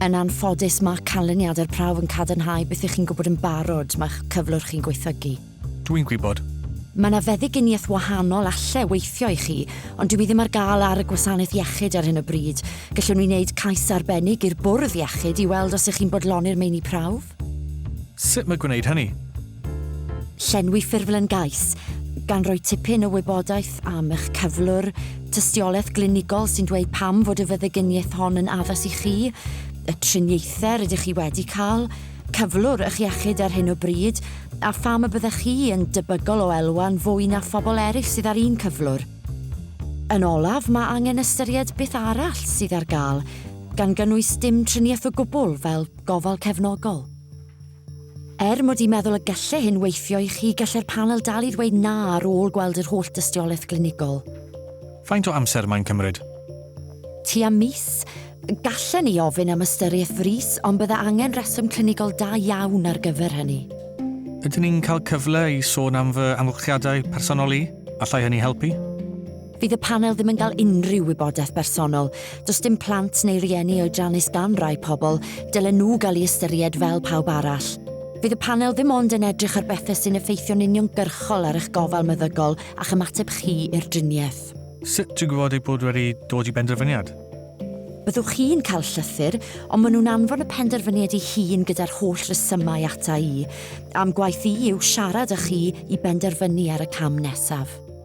Yn anffodus, mae canlyniad yr prawf yn cadarnhau beth ych chi'n gwybod yn barod, mae'ch cyflwr chi'n gweithlygu. Dw i'n gwybod. Mae 'na feddyginiaeth wahanol alle weithio i chi, ond dyw hi ddim ar gael ar y gwasanaeth iechyd ar hyn o bryd. Gallwn ni wneud cais arbennig i'r bwrdd iechyd i weld os ych chi'n bodloni'r meini prawf. Sut mae gwneud hynny? Llenwi ffurflen gais, gan roi tipyn o wybodaeth am eich cyflwr, tystiolaeth glinigol sy'n dweud pam fod y feddyginiaeth hon yn addas i chi, y triniaethau rydych chi wedi cael, cyflwr eich iechyd ar hyn o bryd, a pham y byddech chi yn debygol o elwa'n fwy na phobl eraill sydd â'r un cyflwr. Yn olaf, mae angen ystyried beth arall sydd ar gael, gan gynnwys dim triniaeth o gwbl, fel Gofal cefnogol. Er mod i'n meddwl y gelle hyn weithio i chi, gelle'r panel dal i ddweud na ar ôl gweld yr holl dystiolaeth glinigol. Faint o amser mae'n cymryd? Tua mis. Gallen ni ofyn am ystyriaeth frys, ond bydde angen rheswm clinigol da iawn ar gyfer hynny. Ydyn ni'n cael cyfle i sôn am fy amgylchiadau personol i? Allai hynny helpu? Fydd y panel ddim yn cael unrhyw wybodaeth bersonol. Does dim plant neu rieni oedrannus gan rai pobl, dylen nhw gael ei ystyried fel pawb arall. Fydd y panel ddim ond yn edrych ar bethau sy'n effeithio'n uniongyrchol ar eich gofal meddygol a'ch ymateb chi i'r driniaeth. Sut i gwybod eich bod wedi dod i benderfyniad? Byddwch chi'n cael llythyr, ond maen nhw'n anfon y penderfyniad i hun gyda'r holl resymau ata i. A'm gwaith i yw siarad â chi i benderfynu ar y cam nesaf.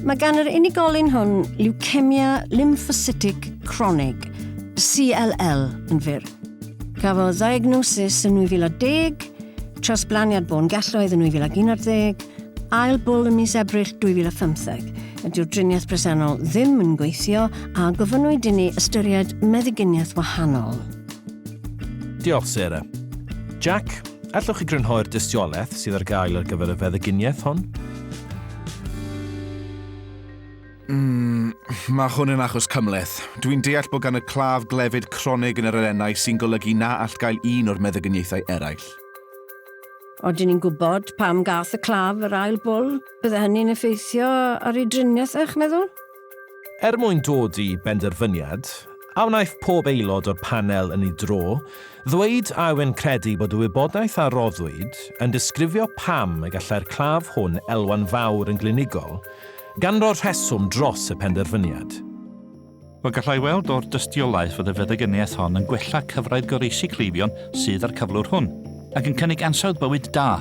Mae gan yr unigolyn hwn leucemia lymphocytic cronig, CLL, yn fyr. Cafodd ddiagnosis yn 2010, trosblaniad bôn gelloedd yn 2011, ail bwl ym mis Ebrill 2015. Ydy'r driniaeth bresennol ddim yn gweithio a gofynnwyd i ni ystyried meddyginiaeth wahanol. Diolch, Sarah. Jack, Allwch chi grynhoi'r dystiolaeth sydd ar gael ar gyfer y feddyginiaeth hon? Mm, mae hwn yn achos cymleth. Dwi'n deall bod gan y claf glefyd cronig yn yr elennau sy'n golygu na all gael un o'r meddygyniaethau eraill. Oedden ni'n gwybod pam gath y claf yr ail bwl? Bydde hynny'n effeithio ar ei driniaeth, eich meddwl? Er mwyn dod i benderfyniad, a wnaiff pob aelod o'r panel yn ei dro ddweud a yw'n credu bod y wybodaeth a roddwyd yn disgrifio pam y gallai'r claf hwn elwa'n fawr yn glinigol, gan roi'r rheswm dros y penderfyniad? Fel gallai weld o'r dystiolaeth fod y feddygyniaeth hon yn gwella cyfraith goroesi cleifion sydd â'r cyflwr hwn. Ac yn cynnig ansawdd bywyd da.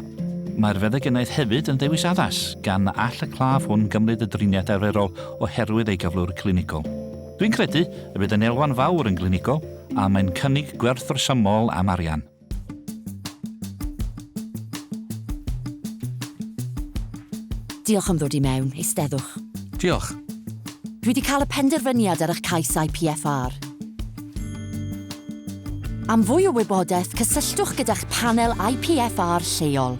Mae'r feddygynaeth hefyd yn ddewis addas, gan na all y claf hwn gymryd y driniaeth arferol oherwydd ei gyflwr clinigol. Dwi'n credu y bydd yn elwa'n fawr yn glinigol a mae'n cynnig gwerth rhesymol am arian. Diolch am ddod i mewn. Eisteddwch. Diolch. Dwi wedi cael y penderfyniad ar eich cais IPFR. Am fwy o wybodaeth, cysylltwch gyda'ch panel IPFR lleol.